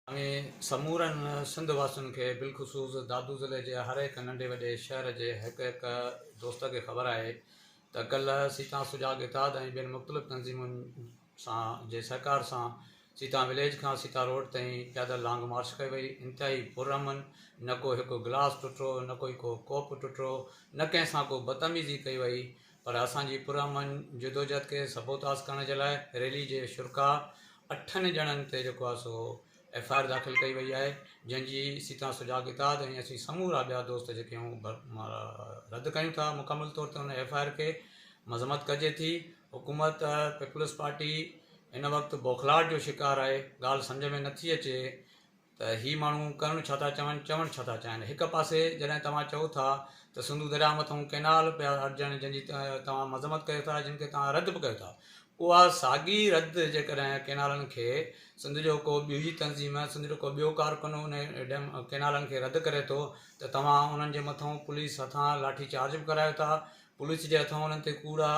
۽ سمورن سنڌ واسين کي بالخصوص دادو ضلعي جي هر هڪ ننڍي وڏي شهر جي هڪ هڪ دوست کي خبر آهي ته ڪلهه سيتان سجاڳ اتحاد ۽ ٻين مختلف تنظيمن سان جي سهڪار سان سيتان وليج کان سيتا روڊ تائين پيادل لانگ مارش ڪئي وئي انتهائي پر امن نه ڪو هڪ گلاس ٽٽو نه ڪوئي ڪو ڪوپ ٽٽو نه ڪنهن سان ڪو بدتميزي ڪئي وئي پر اسان جي پرامن جدوجھد کي سبوتاس ڪرڻ جي لاء ريلي جي شرڪاء اٺن ڄڻن تي جيڪو آهي سو ايف آء آر داخل ڪئي وئي آهي جنهن جي سيتان سجاڳ اتحاد ۽ اسين سمورا ٻيا دوست جيڪي آهيون رد ڪيون ٿا مڪمل طور تي ان ايف آء آر کي مذمت ڪجي ٿي حڪومت پيپلز پارٽي هن وقت بوکلاهٽ جو شڪار آهي ڳالهه سمجھ ۾ نٿي اچي ته هي ماڻهو ڪرڻ ڇا ٿا چاهن، چوڻ ڇا ٿا چاهن. هڪ پاسي جڏهن توهان چئو ٿا ته سنڌو درياء مٿئون ڪئنال پيا اڏجڻ جنهن جي توهان مذمت ڪيو ٿا جن کي توهان رد به ڪيو ٿا اها ساڳي رد جيڪڏهن ڪئنالن کي سنڌ جو ڪو ٻيجي تنظيم سنڌ جو ڪو ٻيو ڪارڪن ان ڊيم ڪئنالن کي رد ڪري ٿو ته توهان انهن جي مٿئون پوليس هٿان لاٺي چارج به ڪرايو ٿا پوليس جي هٿئون انهن تي ڪوڙا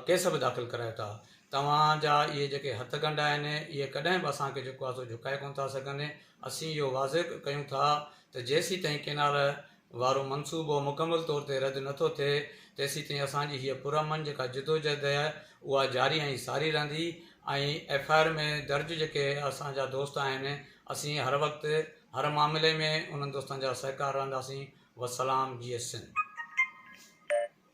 ڪيس به داخل ڪرايو ٿا. توهان جا اهي جيڪي هٿ ڳنڍ آهن، اهي ڪڏهن به اسان کي جيڪو آهي سو جهڪائي ڪونه ٿا سگهن. اسين اهو واضح ڪيون ٿا ته جيسيتائين ڪينال وارو منصوبو مڪمل طور تي رد نه ٿو ٿئي، تيسيتائين اسان جي هيء پرامن جيڪا جدوجهد اهي اها جاري ۽ ساري رهندي ۽ ايف آء آر ۾ درج جيڪي اسان جا دوست آهن، اسين هر وقت هر معاملي ۾ انهن دوستن جا سهڪار رهنداسين. والسلام. جيئي سنڌ.